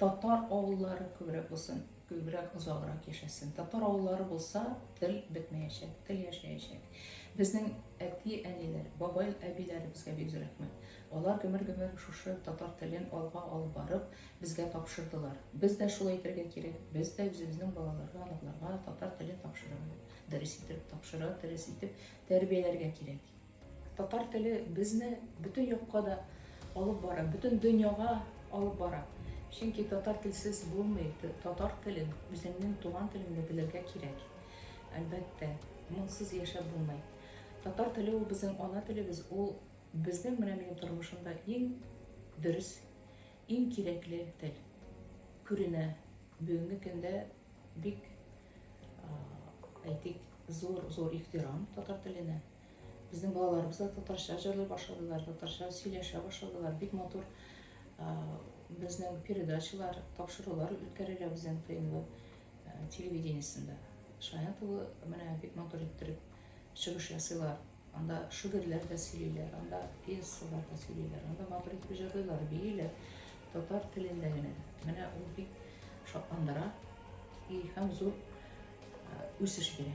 Татар авыллары күбрәк булсын, күбрәк озаграк яшәсен. Татар авыллары булса, тел бетмәячәк, тел яшәячәк. Безнең әти, әниләр, бабай, әбиләребезгә бик зур рәхмәт. Алар гомер-гомер шушы татар телен алга алып барып, безгә тапшырдылар. Без дә шулай итәргә кирәк. Без дә үзебезнең балаларга, оныкларга татар телен тапшырырга, дөрес итеп тапшыра, дөрес итеп тәрбияләргә кирәк. Татар теле безне бөтен якка да алып бара, бөтен дөньяга алып бара. Чөнки татар телсез булмый, татар телен, үзеңнең туган телеңне белергә кирәк. Әлбәттә, моңсыз яшәп булмый. Татар теле ул безнең ана телебез, ул безнең менә минем тормышымда иң дөрес, иң кирәкле тел. Күренә, бүгенге көндә бик, әйтик, зур-зур ихтирам татар теленә. Безнең балаларыбыз да татарча җырлый башладылар, татарча сөйләшә башладылар. Бик матур безнең передачалар, тапшырулар үткәрелә безнең ТНВ телевидениесендә. Шаян тулы менә бик матур иттереп чыгыш ясыйлар. Анда шигырьләр дә сөйлиләр, анда пьесалар да сөйлиләр, анда матур итеп җырлыйлар, бииләр. Татар телендә генә. Менә ул бик шатландыра и һәм зур үсеш бирә.